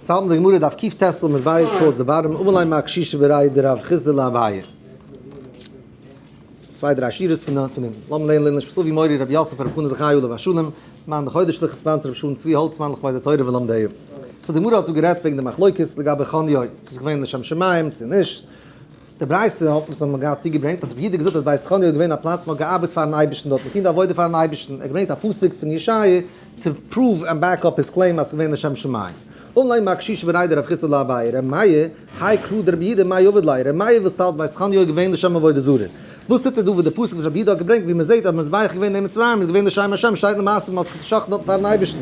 צייט אין די גמרא דף קיט טז סא מיט בית טז די בארם אמא ליה מא קשישא בראי די רב חיסדא לה אביי צוויי דריי שורות פון פון אונטן לאמיר לערנען לערנען שפעציעל ווי מורי רבי יוסף רבי חנא זכרי' עליו השלום מאן דכר די שליחות ספאנסער רבי שלום צבי האלצמאן לכבוד די תורה ולומדיה סא די גמרא האט דא גערעדט וועגן די מחלוקת לגבי חניו צו ס'איז געווען לשם שמים צו נישט. די ברייתא האט אונז אמאל געהאט צוגעברענגט אז רבי יהודה האט געזאגט אז בית חנוך איז געווען א פלאץ מען האט געארבעט פארן אייבערשטן דארט, געטון די עבודה פארן אייבערשטן, ער האט געברענגט א פסוק פון ישעיה טו פראוו ענד בעק אפ היז קלעים אז ס'איז געווען לשם שמים. אנלייק מיי קשיש בן ריידא רב חיסדא לייב ביי ר' מאיר היי קראו דרבי יהודה מאי אבד ליה ר' מאיר וואס האלט בית חנוך איז געווען לשם עבודה זרה וואס טוט ער דא וואס די פסוק וואס רבי יהודה האט געברענגט ווי מען זעט אז מזבח איז געווען אין מצרים איז געווען לשם השם שטייט למעשה מען האט געשאכטן דארט פארן אייבערשטן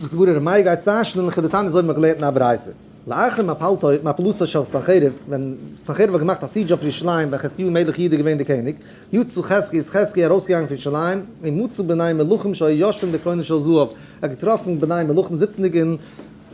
זאגט די גמרא ר' מאיר גייט טייטשן און לכדתניא אזוי ווי מען האט געלערנט אין א ברייתא. לאחר מפלתו התנפלותו של סנחריב, ווען סנחריב האט געמאכט א סידזש אויף ירושלים ווען חזקיהו מלך יהודה איז געווען די קעניג, יו ט חז ג איז חזקי ארויסגעגאנגען פון ירושלים, און מצא בני מלכים שהיה יושבן בקרנות של זהב, ער האט געטראפן בני מלכים זיצנדיג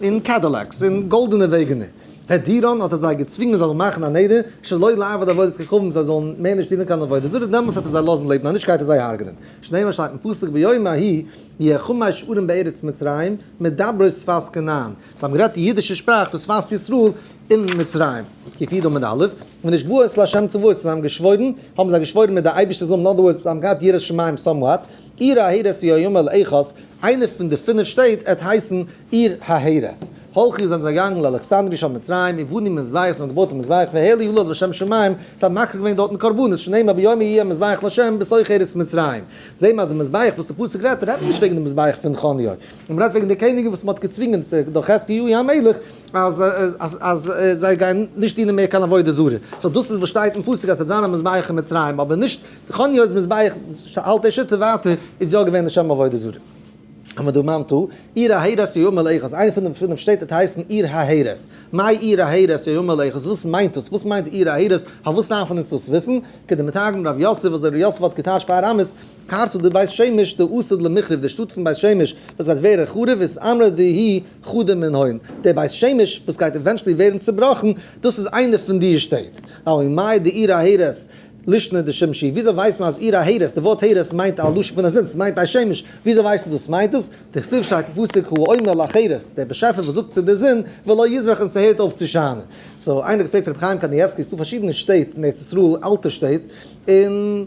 אין קעדילעקס, אין גאלדענע וועגענער, הער דיראן, האט ער זיי געצווינגען זיי זאלן מאכן א נדר, שלא לעבוד עבודת כוכבים זיי זאלן מער נישט דינען קיין עבודה זרה, דעמאלס וועט ער זיי לאזן לעבן און נישט גייט ער זיי הרג'נען, שנאמר שטייט אין פסוק ביום ההיא יהיה חמי שברים בארץ מצרים מדברי שפת כנען, זיי האבן גערעדט די אידישע שפראך דאס פאלק ישראל אין מצרים, כפי דא מד א', ונשבעו את לה' צבאות, און זיי האבן געשוואוירן, האבן זיי געשוואוירן מיט די אייבערשטער זאלן, אין אדער ווארדס, זיי האבן געהאט יראת שמים סאמוואט, עיר ההרס היא היום אל איכות, איינע פון די פינף שטעט עט הייסן עיר ההרס. הלכו זענען זיי געגאנגען לאלכסנדרי' של מצרים און בונים מזבח, זיי האבן געבויט א מזבח והעלו יולד לשם שמים, זיי האבן מקריב געווען דארטן קרבנות, שנאמר ביום ההיא יהיה מזבח לה' בסוך ארץ מצרים. זעהן מיר אז די מזבח וואס די פסוק רעדט רעדט מען נישט וועגן די מזבח פון חניו, און מ'רעדט וועגן די קעניגן וואס מ'האט געצווינגען צו דורך חזקיהו המלך אז אז זיי גייען נישט דינען מער קיין עבודה זרה, סאו דאס איז וואס שטייט אין פסוק אז ס'וועט זיין א מזבח אין מצרים, אבער נישט חניה'ס מזבח, האלט די שיטה ווייטער איז יא געווען לשם עבודה זרה. המדומנתו, עיר ההרס יהיו מלאכות, איינע פון די פינף שטעט וועט הייסן עיר ההרס, מאי עיר ההרס יהיו מלאכות, וואס מיינט דאס? וואס מיינט עיר ההרס? פארוואס דארפן אונז דאס וויסן? כדמתרגם רב יוסף, אזוי ר' יוסף האט געטייטשט פאר ארמית, קארט אדער בית שמש די אסד למחרב די שטאט פון בית שמש וואס גייט ווערן חרוב איז אמרא דהי חדה מן הוין די בית שמש וואס גייט עווענטשעלי ווערן צובראכן דאס איז איינע פון די שטעט אוי מאי דעיר ההרס לישנא דשמשי וויאזוי ווייסט מען אז עיר ההרס די ווארט הערס מיינט א לשון פון א זון סמיינט בית שמש וויאזוי ווייסט מען דאס מיינט דאס די כסוף שטייט אין פסוק הוא האומר לחרס דער באשעפער וואס זאגט צו די זון ולא יזרח און סהערט אויף צו שיינען סאו איינער האט געפרעגט רבי חיים קניבסקי סדא פארשידענע שטעט אין ארץ ישראל אלטע שטעט און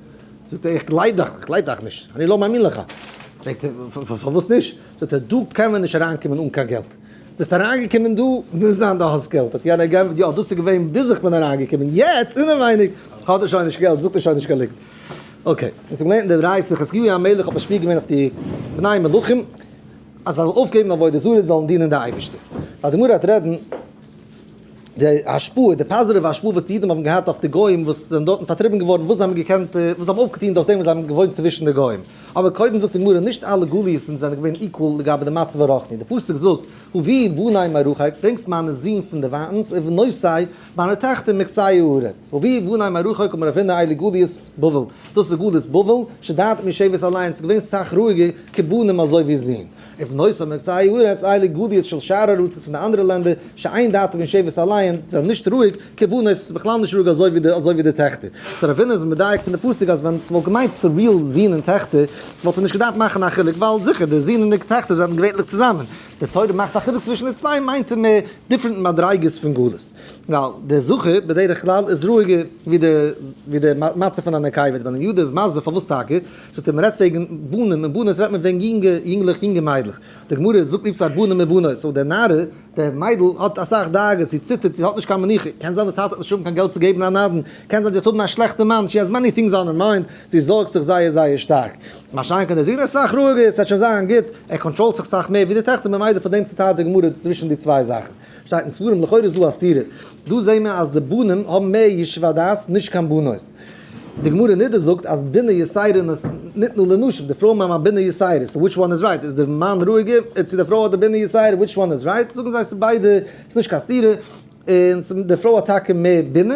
זאגט ער, איך גלייב דיך, איך גלייב דיך נישט, אני לא מאמין לך. פרעגט ער, פארוואס נישט? זאגט ער, דא קען מען נישט אריינקומען אן קיין געלט. ביסט אריינגעקומען דא, מוז זיין דו האסט געלט. האט יענער געענטפערט, יא, דאס איז געווען ביז איך בין אריינגעקומען, יעצט אינעווייניג האט ער שוין נישט געלט, זאגט ער שוין נישט קיין ליגנט. אקעי, אונז האבן געלערנט אין די ברייתא, חזקיהו המלך האט משפיע געווען אויף די בני מלכים אז זיי זאלן אויפגעבן עבודה זרה און זאלן דינען די אייבערשטער. ווייל די גמרא וועט רעדן. די השפעה, די פאזיטיווע השפעה וואס די אידן האבן געהאט אויף די גוים וואס זענען דארטן פארטריבן געווארן, וואס זיי האבן געקענט, וואס זיי האבן אויפגעטון דורכדעם וואס זיי האבן געוואוינט צווישן די גוים. אבער קודם זאגט די גמרא, נישט אלע גלות'ן זענען געווען איקוואל לגבי די מצב הרוחני. די פסוק זאגט, הביא בני מרחק, ברענגסט מיינע זין פון דערווייטנס, ובנותי, מיינע טעכטער מקצה הארץ. הביא בני מרחק אמר אבינו אלה גליות בבל, דאס איז גלות בבל, שדד משבט אליין, ס'איז געווען סאך רואיגער כבנים אזוי ווי זין. אויף נושא מבצעי ארץ אלה גליות של שאר ארצות פון די אנדערע לענדער שאין דעתם אין שבט אליין זענען נישט רואיג כ ב נושא איז בכלל נישט רואיג אזוי ווי אזוי ווי די טעכטער סאו ר' ווילנער איז מדייק פון די פסוק אז ווען ס'וואלט געמיינט ס'איז ריעל זון און טעכטער וואלט ער נישט געדארפט מאכן א חילוק ווייל זיכער די זון און די טעכטער זענען געווענליך צוזאמען די תורה מאכט א חילוק צווישן די צוויי מיינט ער מער דיפרענט מדריגות פון גלות ווייל די זכר בדרך כלל איז רואיגער ווי די ווי די מצב פון א נקבה ווען יהודה איז מסביר פארוואס טאקע. זאגט ער מ'רעדט וועגן בנים און בנות רעדט מען וועגן יונגע יונגלעך יונגע מיידלעך, די גמרא זאגט אי פסח בנים ובנות, סאו די נערה, די מיידל האט אסאך דאגות, זי ציטערט, זי האט נישט קיין מנוחה, קען זיין די טאטע וועט נישט האבן קיין געלט צו געבן א נדן, קען זיין זי וועט האבן א שלעכטע מאן, שי העז מעני טינגס אן הער מיינד, זי זארגט זיך זייער זייער שטארק, משאכ האט דער זון אסאך רוגז, ס'וועט שוין זיין גוט, ער קאנטראלט זיך סאך מער ווי די טעכטער, ממילא פון דעם ציטייט די גמרא צווישן די צוויי זאכן. שטייט אין ספרים לכאורה איז דא א סתירה, דא זעהן מיר אז די בנים האבן מער ישוב הדעת נישט קיין בנות, די גמרא אין נדה זאגט אז בינה יסיירין איז נתנה לנשים, די פרויען האבן א בינה יסיירין, סאו וויטש וואן איז רייט, איז די מאן רואיגער צו די פרוי האט די בינה יסיירין, וויטש וואן איז רייט, זאגן זיי ס'איז ביידע, ס'איז נישט קיין סתירה, און די פרוי האט טאקע מער בינה,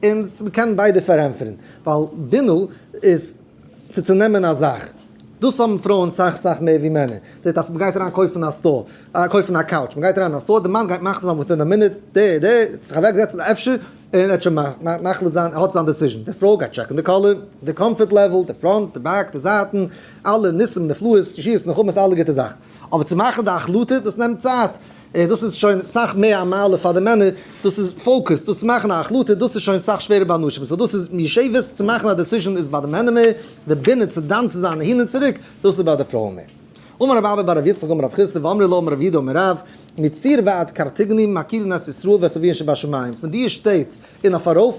און מ'קען ביידע פארענטפערן, ווייל בינה איז צו צונעמען א זאך. דאס האבן פרויען סאך סאך מער ווי מענער. זעט אז מ'גייט אריין קויפן א סטאר, קויפן א קאוטש, מ'גייט אריין אין א סטאר, די מאן גייט מחליט זיין וויטין א מינוט, די די האט זיך אוועק געזעצט אפשר, און ער האט שוין מחליט זיין, האט זיין דעסיזשען. די פרוי גייט טשעקן די קאלער, די קאמפארט לעוועל, די פראנט, די בעק, די זייטן, אלע ניסים נפלאות, שירס נחמות, אלע גוטע זאכן. אבער צו מאכן די החלטה, דאס נעמט צייט. און דאס איז שוין סאך מער א מעלה פאר די מענער, דאס איז פאוקעס, דאס מאכן א החלטה, דאס איז שוין סאך שווערער ביי נשים, סאו דאס איז יושבת צו מאכן א דעסיזשען איז ביי די מענער מער, די בינה צו דן צו זיין אהין און צוריק, דאס איז ביי די פרויען מער. אמר רב אבא בר רב יצחק אמר רב חיסדא ואמרי לו אמר רב יהודה אמר רב, מציר ועד קרתגנים מכירין את ישראל ואת אביהן שבשמים, פון דיר שטעט און אויף ארויף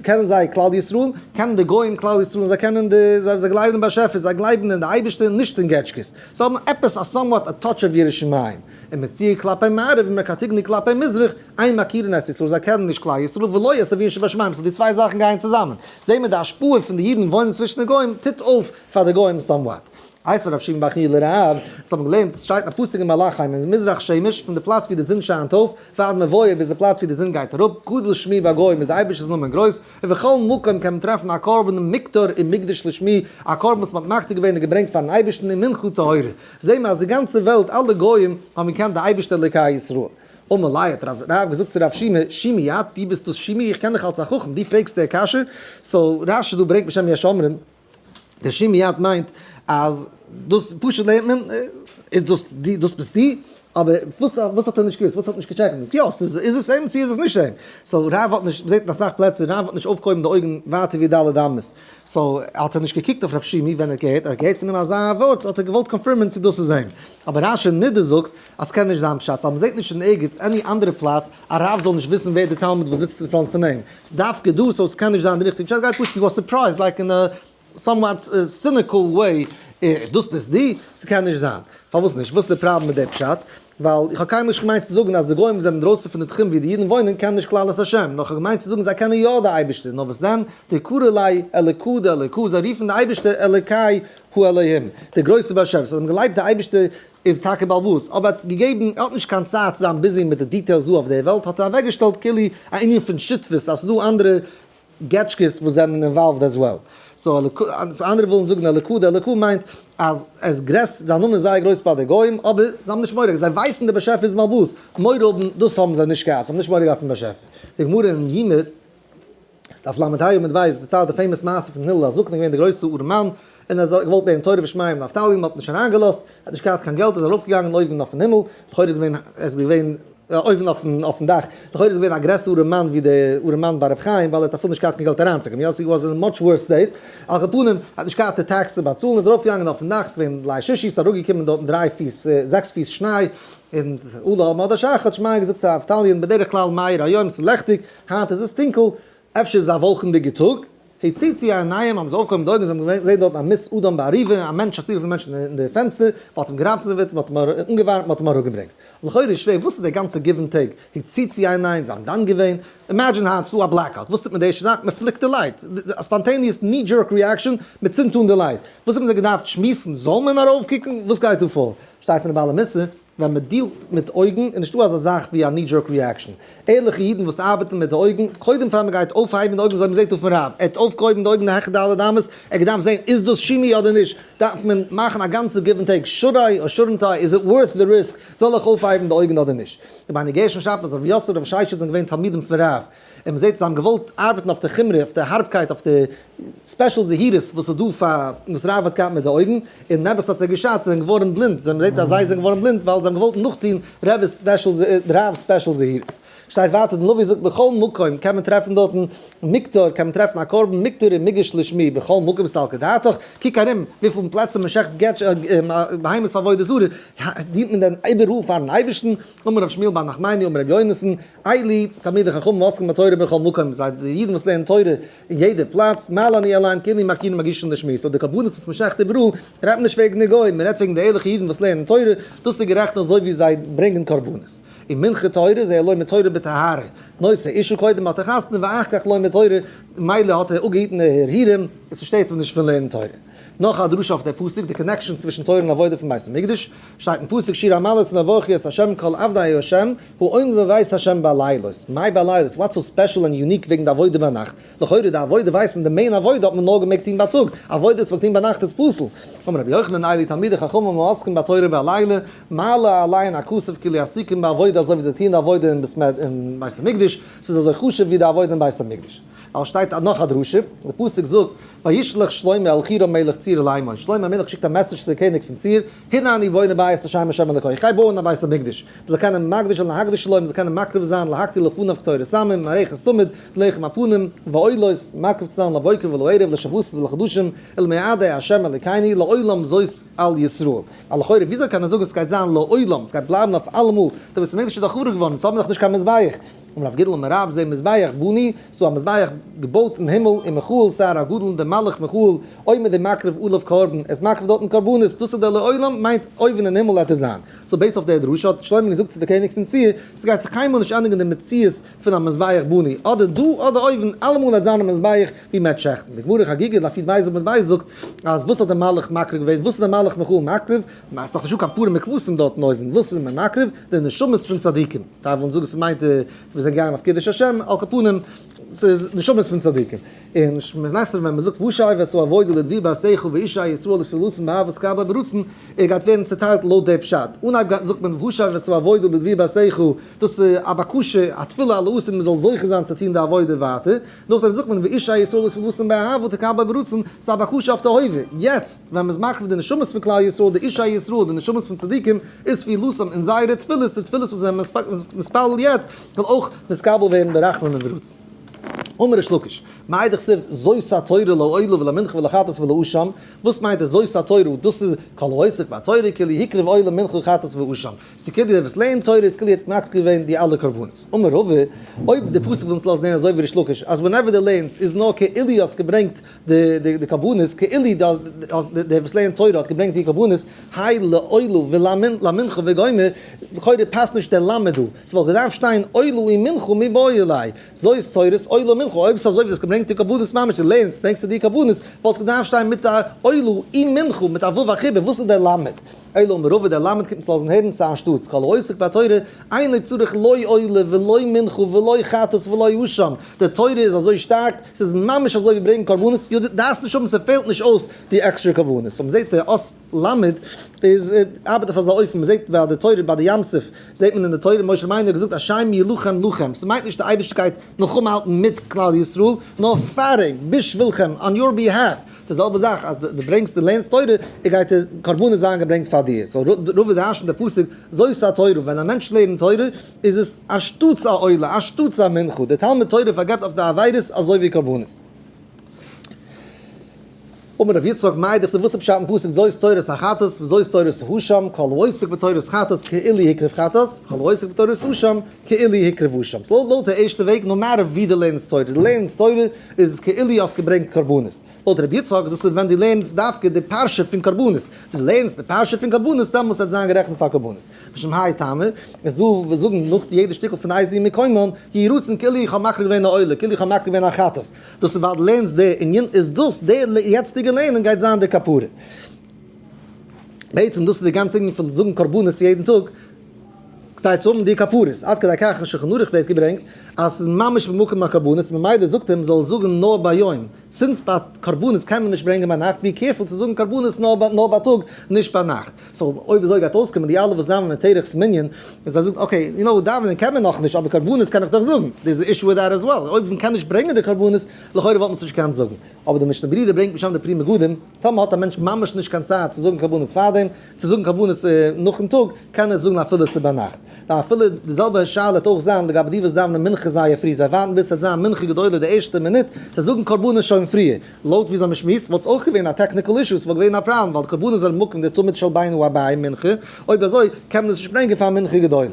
קענען זיי כלל ישראל, קענען די גוים כלל ישראל און זיי קענען די, זיי גלייבן אין באשעפער, זיי גלייבן אין די אייבערשטער נישט אין געטשקעס, זיי האבן עפעס א סאמוואט א טאטש אוו ירא שמים. און מצייר כלפי מערב און מרקטיגני כלפי מזרח, איין מכיר אין ארץ ישראל, זיי קענען נישט כלל ישראל, ולא יעשה ווי אין שבשמים, סאו די צוויי זאכן גייען צוזאמען, זעהן מיר די השפעה פון די אידן וואוינען צווישן די גוים טוט אויף פאר די גוים סאמוואט. הייסט פון ר' שמעון בר חייא ל ר א, אונז האבן געלערנט עס שטייט אין א פסוק אין מלאך חיים אז מזרח שמש פון די פלאץ ווי די זון שיינט אויף ועד מבואו ביז די פלאץ ווי די זון גייט אראפ גדול שמו בגוים איז די אייבערשטער'ס נאמען גרויס און בכל מקום קען מען טרעפן א קרבן מקטר און מקדש לשמו א קרבן וואס מען האט מקטיר געווען און געברענגט פארן אייבערשטן און מנחה טהורה זעהן מיר אז די גאנצע וועלט אלע גוים האבן געקענט די אייבערשטער אלוקי ישראל. אמר ליה האט רב רב געזאגט צו רב שמעון, שימי אט די ביסט דאס שימי איך קען דיך אלס א חכם די פרעגסט די קשיא, סאו רשי דא ברענגט בשם יש אומרים די שימי אט מיינט אז דאס פשוט לערנט מען איז דאס די דאס ביסטו. אבער וואס וואס האט ער נישט געוואוסט וואס האט נישט געטשעקט מיט יא ס'איז איז עס אים צו איז עס נישט אים סאו רב האט נישט מ'זעט אין אסאך פלעצער רב האט נישט אויפגעהויבן די אויגן ווייטער ווי ד' אמות סאו האט ער נישט געקוקט אויף רב שימי ווען ער האט געהערט ער האט געהערט פון אים אזא ווארט האט ער געוואלט קאנפירמען צו דאס איז אים אבער ר' אשר נידער זאגט אז ס'קען נישט זיין פשט ווייל מ'זעט נישט אין ערגעץ עני אנדערע פלאץ א רב זאל נישט וויסן ווער די תלמיד וואס זיצט אין פראנט פון אים דווקא דא סאו ס'קען נישט זיין די ריכטיגע פשט גייט פשוט ווי א סורפרייז לייק אין א סאמוואט סיניקעל וועי, איך דאס ביסט דו? ס'קען נישט זיין. פארוואס נישט? וואס איז די פראבלעם מיט די פשט? ווייל איך האב קיינמאל נישט געמיינט צו זאגן אז די גוים וואס זענען אינדרויסן פון די תחום וואו די אידן וואוינען קענען נישט כלל את השם, נאר איך האב געמיינט צו זאגן זיי קענען יא די אייבערשטער, נאר וואס דען? די קרא לאי אלוקא דאלוקא, זיי רופן די אייבערשטער אלוקי האלוהים, דער גרויסער באשעפער, זיי האבן געגלייבט די אייבערשטער איז טאקע באלעבאס, אבער ער האט געגעבן, ער האט נישט קיין צייט צו זיין ביזי מיט די דיטעילס דא אויף די וועלט, האט ער אוועקגעשטעלט כאילו א ענין פון שותפות אז ס'דא אנדערע געטשקעס וואס זענען אינוואלווד עז וועל. סאו אנדערע ווילן זאגן אלוקא, די אלוקא מיינט אז ער איז גרעס, זיין נאמען איז זייער גרויס ביי די גוים, אבער זיי האבן נישט מורא, זיי ווייסן דער באשעפער איז מלבוש, מורא האבן דאס האבן זיי נישט געהאט, זיי האבן נישט מורא געהאט פון באשעפער. די גמרא אין יומא, דף ל"ה עמוד ב', דערציילט די פעימאס מעשה פון הלל, א זקן איז געווען דער גרויסער ארעמאן, און ער האט געוואלט לערנען תורה ושמעים און נפתלי האט נישט אריינגעלאזט, ער האט נישט געהאט קיין געלט איז ער ארויפגעגאנגען אויבן אויפן הימל, לכאורה איז געווען עס געווען אויבן אויפן אויפן דאך, לכאורה איז געווען א גרעסערע מאן ווי די ארעמאן ביי רבי חיים ווייל ער האט אפילו נישט געהאט קיין געלט אריינצוקומען, יוסי וואס אין מאטש ווארס סטעיט, על כל פנים ער האט נישט געהאט די טעקס צו באצאלן איז ער ארויפגעגאנגען אויפן דאך, עס איז געווען ליל שישי עס איז אראפגעקומען דארטן דריי פיס זעקס פיס שניי, און אולי על מועד השחר האט שמעיה געזאגט צו נפתלי און בדרך כלל מאיר היום עס איז לעכטיג היינט איז עס טונקל, אפשר איז א וואלקענדיגע טאג? הציצו עיניים האבן זיי אויפגעהויבן די אויגן און זיי האבן געזען דארט א מת אדם בעריבה, א מענטש, א ציבור פון מענטשן אין די פענסטער, מען האט אים געראטעוועט, מען האט אים אנגעווארעמט, מען האט אים אראפגעברענגט. לכאורה איז שווער, וואס איז די גאנצע גיוון טעג? הציצו עיניים, זיי האבן דן געווען? אימעדזשין היינט איז דא א בלעקאוט, וואס טוט מען די ערשטע זאך? מען פליקט די לייט, א ספאנטעניעס קני דזשערק ריעקשאן, מען צינדט אן די לייט. וואס האבן זיי געדארפט שמועסן? זאל מען ארויפקוקן? וואס גייט דא פאר? שטייט פון די בעלי מוסר, ווען מען דיעלט מיט אויגן איז נישטא אזא זאך ווי א ני דזשערק ריעקשאן, ערליכע אידן וואס ארבעטן מיט די אויגן, קודם פאר מען גייט אויפהייבן די אויגן זאל מען זעהט אויפן רב, ער האט אויפגעהויבן די אויגן די העכער ד' אמות, ער האט געדארפט זעהן איז דאס שימי אדער נישט, דארף מען מאכן א גאנצע גיוו ענד טעיק, שאד איי אר שאדנט איי, איז איט ווארט די ריסק, זאל איך אויפהייבן די אויגן אדער נישט. רבינו גרשון שפירא, ר' יוסל, ר' שיישא זענען געווען תלמידים פון רב און מ'זעט זיי האבן געוואלט ארבעטן אויף די חומרא, אויף די הארבקייט, אויף די ספעשל זהירות וואס איז דא פאר, וואס רב האט געהאט מיט די אויגן, און נעבעך ס'האט זיי געשאדט, זיי זענען געווארן בלינד, זיי מ'זעט אז זיי זענען געווארן בלינד ווייל זיי האבן געוואלט נאכטוהן רב'ס ספעשל זהירות, רב'ס ספעשל זהירות. שטייט ווייטער דער נביא זאגט בכל מקום קען מען טרעפן דארטן מקטור, קען מען טרעפן א קרבן מקטור און מגיש לשמי בכל מקום סל כדעתך, קוק ארום וויפיל פלעצער מ'שעכט בהמות פאר עבודה זרה, דינט מען דען איבעראל פארן אייבערשטן, אמר ר' שמואל בר נחמני אמר ר' יונתן, איילי, תלמידי חכמים העוסקים בתורה בכל מקום, זיי די אידן וואס לערנען תורה אין יעדע פלאץ, מה לנו אליין כי אנו מכירים מרגישים די שמועס, אויב די קרבנות וואס מען שעכט איבעראל, רעדט מען נישט וועגן די גוים, מען רעדט וועגן די ערליכע אידן וואס לערנען תורה, דאס איז גערעכט אזוי ווי זיי ברענגען קרבנות. און מנחה טהרה, זיי לומד תורה בטהרה, נושא אישו קודם האט ער חתונה ואח כ לומד תורה, מילא האט ער אפגעהיטן די הרהורים, עס שטערט אים נישט פון לערנען תורה. נאך א דרשה אויף די פסוק, די קאנעקשאן צווישן תורה און עבודה פון בית המקדש, שטייט אין פסוק שיר המעלות נברכי את ה' כל עבדי ה', אוין ווען ווייסט השם בלילות, מאי בלילות, וואטס סאו ספעשל ענד יוניק וועגן די עבודה ביינאכט? לכאורה די עבודה ווייסט מען, די מעין עבודה האט מען נאר געמעגט טוהן בייטאג, עבודה וואס מ'מעג טוהן ביינאכט איז פסול. אמר רבי יוחנן איילי תלמידי חכמים העוסקים בתורה בלילה, מעלה עלי אין הכסף כי לי עסיקין בעבודה אזוי ווי זיי טוהן די עבודה אין בית המקדש, ס'איז אזוי חשוב ווי די עבודה אין בית המקדש. ווייל שטייט נאך א דרשה, די פסוק זאגט וישלח שלמה אל חירם מלך ציר לאמור, שלמה המלך שיקט א מעסעדזש צו די קעניג פון ציר, הנה אני בונה בית לשם השם אלוקי, איך גיי בויען א בית המקדש, מען זאל קענען מקדש זיין להקדיש לו, מען זאל קענען מקריב זיין להקטיר לפניו קטורת העמים, מערכת תמיד, לחם הפנים, ועולות, מקריב צו זיין לבוקר ולערב, לשבתות ולחדשים, אל מעדי השם אלוקינו, לעולם זאת על ישראל. א לכאורה וויאזוי קען מען זאגן ס'גייט זיין לעולם, ס'גייט בלייבן אויף אלעמאל, די בית המקדש איז דאך חרוב געווארן, יעצט האבן מיר דאך נישט קיין מזבח. און אויף גדול מערב זה מזבח בוני, ס'איז דא א מזבח געבויט אין הימל אין מכאו'ל סהר הגדול און דער מלאך מכאו'ל עומד און מקריב עליו קרבן, ער איז מקריב דארטן קרבנות, דאס איז דער לעולם מיינט אויבן אין הימל וועט ער זיין. סאו בעיסד אויף דער דרשה האט שלמה געזאגט צו דער קעניג פון ציר, ס'גייט זיך קיינמאל נישט ענדיגן די מציאות פון א מזבח בוני, אדער דא אדער אויבן, אלעמאל וועט זיין א מזבח ווי מ'עט שעכטן. די גמרא אין חגיגה דף יט בייז עמוד בייז זאגט אז וואס האט דער מלאך מקריב געווען, וואס איז דער מלאך מכאו'ל מקריב, ס'איז דאך נישטא קיין פארע מקוואות אין דארטן אויבן, וואס איז מען מקריב? די נשמות פון צדיקים. טייל וועלן זאגן ס'מיינט אז מיר זענען געגאנגען אויף קידוש השם, על כל פנים ס'איז נשמות פון צדיקים. און שמות נסתרים ווען מ'זאגט וואשאי ועשו אבוידא לדבי בר שיחו ואישי ישראל אשר לסן באהבת קב ה ברצון, ער גייט ווערן צעטיילט לויט די פשט. אנהייב זאגט מען וואשאי ועשו אבוידא לדבי בר שיחו, דאס איז א בקשה, א תפילה, א לעוס אז מ'זאל זוכה זיין צו טון די עבודה ווייטער. נאכדעם זאגט מען ואיש ה' ישראל איז פארוואס אין באהבה תקבל ברצון, ס'איז א בקשה אויף די הווה, יעצט ווען מ'איז מקרב די נשמות פון כלל ישראל, די איש ה' ישראל, די נשמות פון צדיקים, איז פעילותם און זייערע תפילות, די תפילות וואס ווען מ'איז מתפלל יעצט, זאל אויך נתקבל ווערן ברחמים וברצון. אמר ריש לקיש, מאידך סיב זאת התורה לעולה ולמנחה ולחטאת ולאשם, וואס מיינט עס זאת התורה, דאס איז כל העוסק בתורה כאילו הקריב עולה מנחה חטאת ואשם, ס'קען דיר עפעס לערנען תורה, איז כאילו ער האט מקריב געווען די אלע קרבנות. אמר רבא, אויב די פסוק וויל אונז לאזן לערנען אזוי ווי ריש לקיש, אז ווענעווער דו לערנסט איז נאר כאילו האסט געברענגט די קרבנות, כאילו דער וואס לערנט תורה האט געברענגט די קרבנות, היי לאלו ולמנ ל מנחה וגומר, לכאורה פאסט נישט דער למה דא, ס'וואלט געדארפט שטיין עלו און מנחה מי באו אלי, זוי איז תורת עלו און מנחה, אויב ס'איז אזוי ווי דו האסט געברענגט די קרבנות ממש, דו לערנסט ברענגסטו די קרבנות, וואלט עס געדארפט שטיין מיט א עלו און מנחה, מיט א ו' א חיבור, וואס איז דער למה? אלא מרובה דער למד קומט עס לאזן הערן סא אנשטאטס כל העוסק בתורה אינו צריך לא עולה ולא מנחה ולא חטאת ולא אשם, די תורה איז אזוי שטארק, ס'איז ממש אזוי ווי ברענגן קרבנות, יא די דארפסט נישט האבן ס'פעלט נישט אויס די עקסטרע קרבנות, סאו מ'זעט די אס. למד איז ארבעט אויף אזא אופן, מ'זעט ביי די תורה ביי די ים סוף זעט מען אין די תורה משה רבינו האט געזאגט השם ילחם לכם, ס'מיינט נישט די אייבערשטער גייט מלחמה האלטן מיט כלל ישראל נאר פייטינג בשבילכם אן יור ביהאף, די זעלבע זאך אז די ברענגסט די לערנסט תורה איז גייט די קרבנות זיין געברענגט פאר דיר סאו רוב איז היישן די פסוק זאת התורה ווען א מענטש לערנט תורה איז עס אנשטאטס א עולה אנשטאטס א מנחה די תלמוד תורה פארגעבט אויף די עבירות אזוי ווי קרבנות. אמר ר' יצחק מאיר דאס איז וואס איז פשט אין פסוק זאת תורת החתס וזאת תורת האשם כל העוסק בתורת חתס כאילו הקריב חתס וכל העוסק בתורת האשם כאילי הקרבו שם, ס'איז לויט די ערשטע וועג, נאו מעטער ווי דו לערנסט תורה, דו לערנסט תורה איז עס כאילי האסט געברענגט קרבנות, לויט ר' יצחק דאס איז ווען דו לערנסט דווקא די פרשה פון קרבנות, דו לערנסט די פרשה פון קרבנות דעמאלס וועט זיין גערעכנט פאר קרבנות, משום האי טעמא איז דא וואס זאגן נאך יעדע שטיקל פון איי זיע מקומן, יהי רצון כאילי איך האב מקריב געווען א עולה, כאילי איך האב מקריב געווען א חטאת, דאס איז ווייל דו לערנסט די ענין, איז דאס די יעצטיגע לערנען גייט זיין די כפרה, בעצם דאס איז די גאנצע ענין פון זאגן קרבנות יעדן טאג. כדי צו האבן די כפרות, עד כדי כך שולחן ערוך ווערט געברענגט אז ס'איז ממש במקום הקרבנות, ממילא זאגט אים זאל זאגן נאר ביום, סינס ביי קרבנות קען מען נישט ברענגען ביינאכט בי קעירפול צו זאגן קרבנות נאר בייטאג נישט ביינאכט, סאו אויב אזוי גייט אויסקומען די אלע וואס דאווענען מיט תרח'ס מנין, און זיי זאגן אקעי יו נאו דאווענען קען מען נאכנישט אבער קרבנות קען איך דאך זאגן, דער איז א אישו וויט דעט עז וועל, אויב מען קען נישט ברענגען די קרבנות לכאורה וואלט מען עס נישט געקענט זאגן, אבער די משנה ברירה ברענגט בשם די פרי מגדים, טאמער האט א מענטש ממש נישט קיין צייט צו זאגן קרבנות פארדעם, צו זאגן קרבנות נאכן טאג, קען ער זאגן אפילו עס איז ביינאכט. ווייל אפילו די זעלבע שאלה וועט אויך זיין לגבי די וואס דאווענען מנחה זייער פרי, זיי ווארטן ביז ס'וועט זיין מנחה גדולה די ערשטע מינוט, זיי זאגן קרבנות שוין פריער. לויט ווי זיי האבן שמועסט וואלט עס אויך געווען א טעקניקל אישו, ס'וואלט געווען א פראבלעם ווייל די קרבנות איז על מקום די תמיד של בינו הבעי מנחה, אויב אזוי קען מען עס נישט ברענגען פאר מנחה גדולה.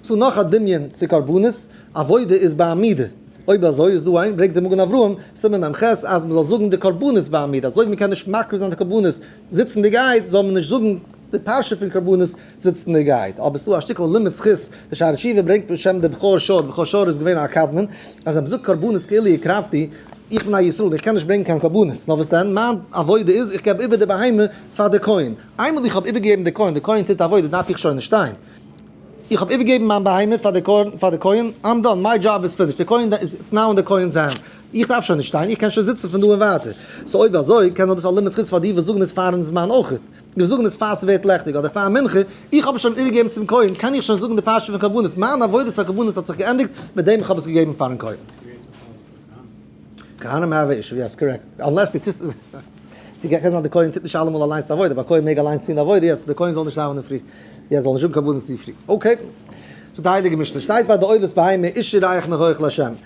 צו נאך א דמיון צו קרבנות, עבודה איז בעמידה. אויב אזוי איז דא איין, ברענגט דער מגן אברהם, סימן מ ח, אז מען זאל זאגן די קרבנות בעמידה, אזוי ווי מען קען נישט מקריב זיין די קרבנות זיצנדיגייט זאל מען נישט זאגן די פרשה פון קרבנות זיצנדיגייט, אבער עס איז דא א שטיקל לימוד זכות, די שאר תשובה ברענגט בשם די בכור שור, די בכור שור איז געווען א קדמון, אז ער זאגט קרבנות כאילו הקרבתי, איך בין א ישראל און איך קען נישט ברענגן קיין קרבנות, נאר וואס דען, מיין עבודה איז איך געב איבער די בהמה פאר די כהן, איינמאל איך האב איבערגעגעבן די כהן, די כהן טוט עבודה דארף איך שוין נישט שטיין, איך האב איבערגעגעבן מיין בהמה פאר די כהן, איים דאן, מיי דזשאב איז פינישט, די כהן איז נאו אין די כהן'ס הענט, איך דארף שוין נישט שטיין, איך קען שוין זיצן פון דא און ווייטער. סאו אויב אזוי, קען זיין דאס א לימוד זכות פאר די וואס זאגן עס פארן זמן אויך. די וואס זאגן עס פאר ס'ווערט לעכטיג, אדער פאר מנחה, איך האב עס שוין איבערגעגעבן צום כהן, קען איך שוין זאגן די פרשה פון קרבנות, מיין עבודת הקרבנות האט זיך געענדיגט מיט דעם איך האב עס געגעבן פארן כהן. ווי האט זיך אנגעפאנגען פאר כהנים? כהנים האב אישו, יעס קארעקט, אנלעס די טוסט עס, די קען זיין די כהן טוט נישט אלעמאל אליינס די עבודה, א כהן מעג אליינס טון די עבודה, יעס, די כהן זאל נישט דאווענען פרי, יעס, זאל נישט האבן קרבנות צו פרי, אקעי, סאו די הייליגע משנה שטייט ביי די עולת בהמה איש ירח מהירך לה'.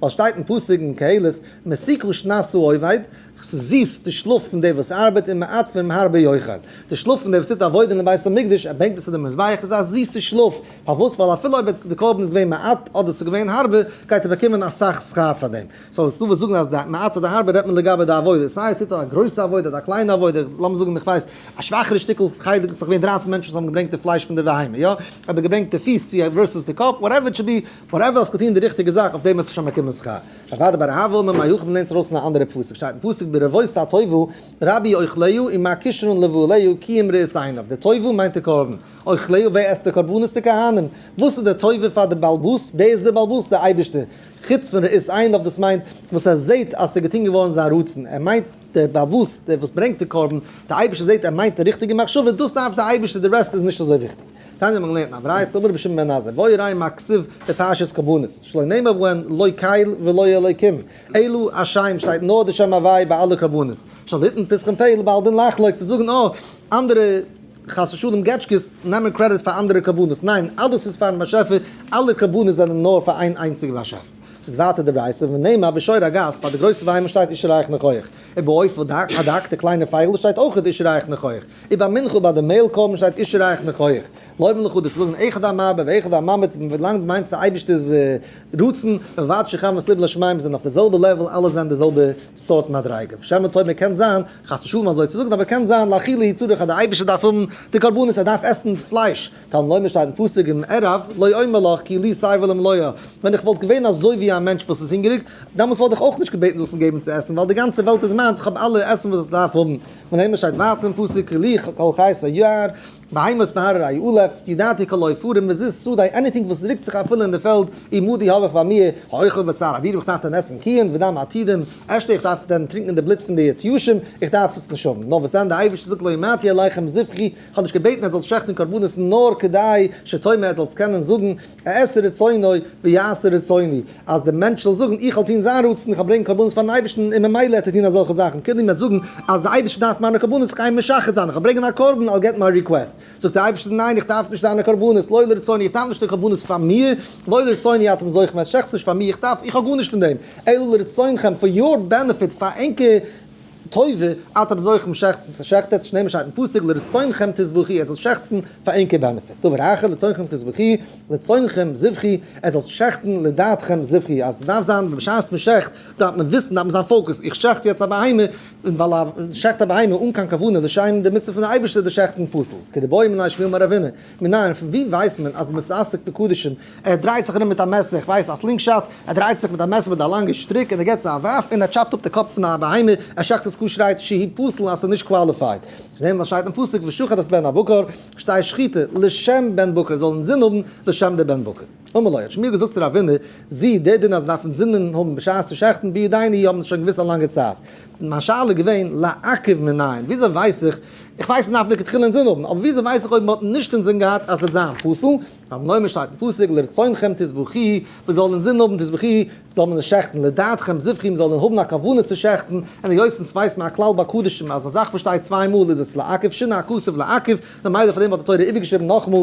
ווייל שטייט אין פסוק אין קהלת, מסיקו שנת העובד, ס'זיס די שלאף פון דער וואס ארבעט און מעט פונעם הרבה יוחד, די שלאף פון דער וואס טוט עבודה אין בית המקדש, ער ברענגט עס צו דעם מזבח, איז א זיסע שלאף, פארוואס? ווייל אפילו אויב די קרבן איז געווען מעט אדער ס'איז געווען הרבה, גייט ער באקומען אסאך שכר פאר דעם, סאו איז דא וואס זאגן אז די מעט אדער הרבה רעדט מען לגבי די עבודה, סיי ער טוט א גרויסע עבודה אדער א קליינע עבודה, לאמיר זאגן איך ווייס א שוואכערע שטיקל חלק איז דאך געווען דרײַצן מענטשן וואס האבן געברענגט די פלייש פון די בהמה, יא? אדער געברענגט די פיס צו ווערסעס די קאפ, וואטעווער איט שוד בי, פאר עוול האסט געטון די ריכטיגע זאך אויף דעם וועסטו שוין באקומען שכר. א ועד באר אהבה האט מען מיין יחום נענטער אויס פון א אנדערע פסוק שטייט אין פסוק ברבבות הטובו רבי אוכליהו עם הכישרון לבעליהו כי אם ראות עיניו די טובו מיינט די קרבן אוכליהו ווער עסט די קרבנות די כהנים וואס איז די טובה פאר די בעלבאס ווער איז די בעלבאס די אייבישטער חוץ פון ראות עיניו דאס מיינט וואס ער זעהט אז ס'איז געטון געווארן זיין רצון ער מיינט די בעלבאס דער וואס ברענגט די קרבן די אייבישטער זעהט ער מיינט די ריכטיגע מחשבה דאס דארף די אייבישטער די רעסט איז נישט אזוי וויכטיג. תניא האט מען געלערנט אין א ברייתא, אמר רבי שמעון בן עזאי, והוי ראי' מקציב בפרשת קרבנות, שלא נאמר בו הן לא קייל ולא אלוקים, אלא השם, שטייט נאר די שם הווי' ביי אלע קרבנות, שוין היתן פסחים פ' לבעל דין לחלוק צו זאגן אה, אנדערע חס ושלום געטשקעס נעמען קרעדיט פאר אנדערע קרבנות, ניין, אלעס איז פארן באשעפער, אלע קרבנות זענען נאר פאר איין איינציגע באשעפער. זאגט ווייטער די ברייתא, ונאמר בשור הגז, ביי די גרויסע ביימער שטייט איש רעיך נכח, און בעופות הדק, די קליינע פייגל, שטייט אויך איש רעיך נכח, און ביי מנחה ביי די מעיל קרבן שטייט אישי רייך מיך הויעך לויבן לך אדער צו זאגן אחד המרבה ואחד הממעיט ווי לאנג דו מיינסט די אייבישטער'ס רצון ובלבד שכוונת לב לשמים זענען אויף די זעלבע לעוועל אלעס זענען די זעלבע סארט מדריגה ושמע טוב מען קען זיין חס ושלום אזוי צו זאגן אבער קען זיין לאכילה היא צריך אז די אייבישטער דארף האבן די קרבנות ער דארף עסן פלייש קל וחומר שטייט אין פסוק אין ערב לא אומר לך כי לי סי' ולא מלואה ווען איך וואלט געווען אזוי ווי א מענטש וואס איז הונגעריג דעמאלס וואלט איך אויך נישט געבעטן זאלסט מיר געבן צו עסן ווייל די גאנצע וועלט איז מיינס איך האב אלע עסן וואס איך דארף האבן. און איינמאל שטייט ווייטער אין פסוק לי כל חית היער בהמות מהרר א י עולף ידעתי כל עופרים וזית שדה עניטינג וואס רוקט זיך אפילו אין די פעלד עמודי האב איך ביי מיר האוכל בשר אוויר איך דארף דען עסן קיען ודם עתידים אשתה איך דארף דען טרינקען די בלוט פון די יתושים איך דארף עס נישט האבן נאר וואס דען די אייבערשטער זאגט לא אמרתי עליכם זבחי איך האב נישט געבעטן ער זאל שעכטן קרבנות נאר כדי שתאמר ער זאלסט קענען זאגן אעשה רצונו ויעשה רצוני, אז דער מענטש זאל זאגן איך וועל טון זיין רצון, איך וועל ברענגן קרבנות פארן אייבערשטן, און ממילא וועט ער טון אזעלכע זאכן, קודם וועט זאגן אז דער אייבערשטער דארף מיינע קרבנות, איך גיי אים משחד זיין, איך וועל ברענגען א קרבן, I'll get my request, זאגט דער אייבערשטער ניין איך דארף נישט דיינע קרבנות, לא לרצוני, איך דארף נישט די קרבנות פאר מיר, לא לרצוני אתם זוכם את שכ ס נישט פאר מיר, איך דארף, איך האב גארנישט פון דעם, אלא לרצונכם, פאר יור בענעפיט, פאר ענקער טובה, אטעם זוכן שעכטן, ס'שעכטעט זיך נעמען שטייט אין פסוק לרצונכם תזבחי, ער זאל שעכצן פאר ענקער בענעפיט, טובה רייכער, לצורכם תזבחי, לצונכם זבחי, ער זאל שעכטן לדעתכם זבחי, אז ס'דארף זיין בשעת מ'שעכט דארף מען וויסן, דארף מען זיין פאוקעסט, איך שעכט יעצט א בהמה, און ווייל א שעכט א בהמה אן קיין כוונה לשם די מצוה פון די אייבערשטער איז די שעכטן פסול, כדבעי מנין שמואל מראבינו. מנין, פון וואו ווייסט מען אז מען איז עסוק בקדשים? ער דרייט זיך ארום מיט א מעסער, איך ווייס א סלינג שאט, ער דרייט זיך מיט א מעסער מיט א לאנגע שטריק און ער געט עס א ווארף און ער טשאפט אפ די קאפ פון א בהמה, ער שחט עס ק שרייט שהיא פסול אז עס איז נישט קוואליפייד. פון דעם וואס שטייט אין פסוק ושחט את בן הבקר שטייט שחיטה לשם בן בקר זאל אינזין האבן לשם די בן בקר. אמר לו, האט שמואל געזאגט צו רבינא, זי, דער דין אז מען דארף אינזין האבן בשעת צו שחט'ן בידייני האבן עס שוין געוואוסט א לאנגע צייט, מיין שאלה איז געווען לעכב מנין, וויאזוי ווייס איך, איך ווייס מען דארף לכתחילה אינזין האבן, אבער וויאזוי ווייס איך אויב מען האט נישט אינזין געהאט אז עס וועט זיין פסול, רבי נוימן שטייט אין פסוק לרצונכם תזבחי, מען זאל אינזין האבן תזבחי, זאל מען עס שעכטן, לדעתכם זבחי, מען זאל האבן א כוונה צו שעכטן, און היות עס ווייסט מען א כלל ביי קדשים אז א זאך וואס שטייט צוויי מאל איז עס לעכב שנא הכסף לעכב, ממילא פאר דעם האט די תורה איבערגעשריבן נאכאמאל,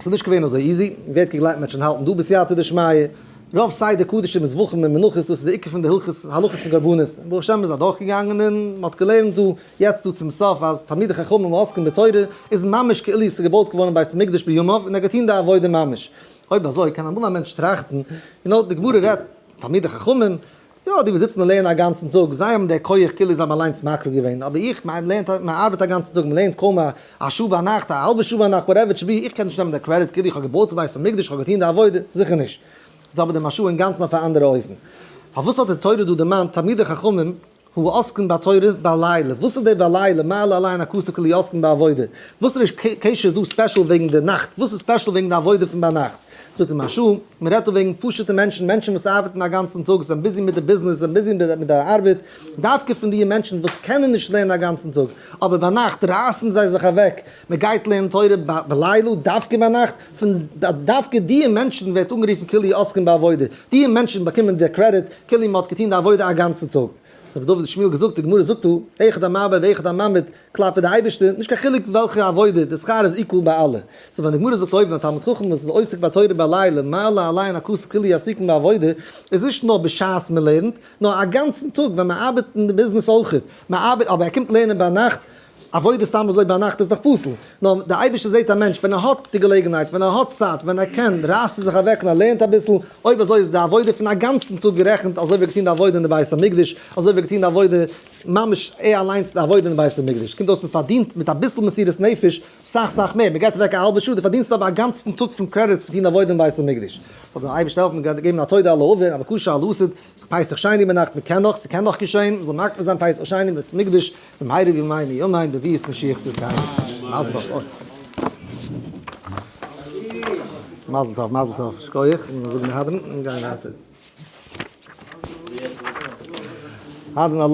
ס'איז נישט געווען אזוי איזי, ווערט געגלייבט מען וועט שוין האלטן דא בסייעתא דשמיא, רוב סדר קדשים איז וואכן מיט מנחות, דאס איז די עיקר פון די הלכות הלכות פון קרבנות, און ברוך השם איז אדורך געגאנגען און מען האט געלערנט דא יעצט דא צום סוף אז תלמידי חכמים ועוסקים בתורה איז ממש כאילו ס'איז געבויט געווארן בית המקדש בימיו און ער געטון די עבודה ממש, אויב אזוי קען אמאל א מענטש טראכטן, די גמרא רעדט תלמידי חכמים. יא, די וואס זיצן און לערנען אגאנצן טאג, זיי האבן דער כח כאילו זיי האבן אליינס מקריב געווען, אבער איך, מיין לערנט, מען ארבעט אגאנצן טאג, מען לערנט קוים א שעה ביינאכט, א האלבע שעה ביינאכט, וואטעווער איט שוד בי, איך קען נישט נעמען דער קרעדיט כאילו איך האב געבויט בית המקדש, איך האב געטון די עבודה, זיכער נישט. איך זעה אבער דעם משהו אינגאנצן אויף א אנדערע אופן. פארוואס האט די תורה דא דערמאנט תלמידי חכמים הוא עוסקין בתורה בלילה? וואס איז דער בלילה? מעלה אליין א קושיא כאילו עוסקין בעבודה. וואס ריש ק קשיא איז דא ספעשל וועגן די נאכט? וואס איז ספעשל וועגן די עבודה פון ביינאכט? זאגט אים השו ע, מען רעדט דא וועגן פשוט'ע מענטשן, מענטשן וואס ארבעטן א גאנצן טאג, זענען ביזי מיט די ביזנעס, זענען ביזי מיט די ארבעט, דווקא פון דיע מענטשן וואס קענען נישט לערנען א גאנצן טאג, אבער ביינאכט רייסן זיי זיך אוועק, מען גייט לערנען תורה בלילה, דווקא ביינאכט, פון דווקא דיע מענטשן ווערט אנגערופן כאילו עוסקים בעבודה, דיע מענטשן באקומען די קרעדיט כאילו מען האט געטון די עבודה א גאנצן טאג. רבי דוד שמואל געזאגט, די גמרא זאגט דא, אחד המעביר ואחד הממית, כלפי די אייבערשטער, נישט קיין חילוק וועלכע עבודה, די שכר איז איקוואל ביי אלע. סאו ווען די גמרא זאגט אויבן א תלמיד חכם וואס איז עוסק בתורה בעלי' למעלה אליין הכסף כאילו יהיה עסיקן בעבודה, איז נישט נאר בשעת מען לערנט, נאר א גאנצן טאג ווען מען ארבעט אין די ביזנעס אויכעט, מען ארבעט אבער ער קומט לערנען ביינאכט, עבודה סתם אזוי ביינאכט איז דאך פסול, נאר די אייבערשטער זעט א מענטש ווען ער האט די געלעגנהייט, ווען ער האט צייט, ווען ער קען רייסט ער זיך אוועק און ער לערנט אביסל, אויב אזוי איז די עבודה פון א גאנצן טאג גערעכנט אזוי ווי ער האט געטון די עבודה אין די בית המקדש, אזוי ווי ער האט געטון די עבודה ממש ער אליינס די עבודה אין בית המקדש, קומט אויס מען פארדינט מיט אביסל מסירות נפש סאך סאך מער, מען גייט אוועק א האלבע שעה, דו פארדינסט אבער א גאנצן טאג פון קרעדיט פון טון עבודה אין בית המקדש. זאל דיר אייבערשטער העלפן געבן א תודה על העבר, א בקשה על העתיד, זיך פסח שיין איבערנאכטן, מען קען נאך, ס'קען נאך געשען, מ'זאל מקפיד זיין פסח שיין אין בית המקדש, במהרה בימינו ימינו בביאת משיח צדקינו. מזל טוב. מזל טוב, מזל טוב, שכויעח, און זאגן מהדרין און גיין ווייטער.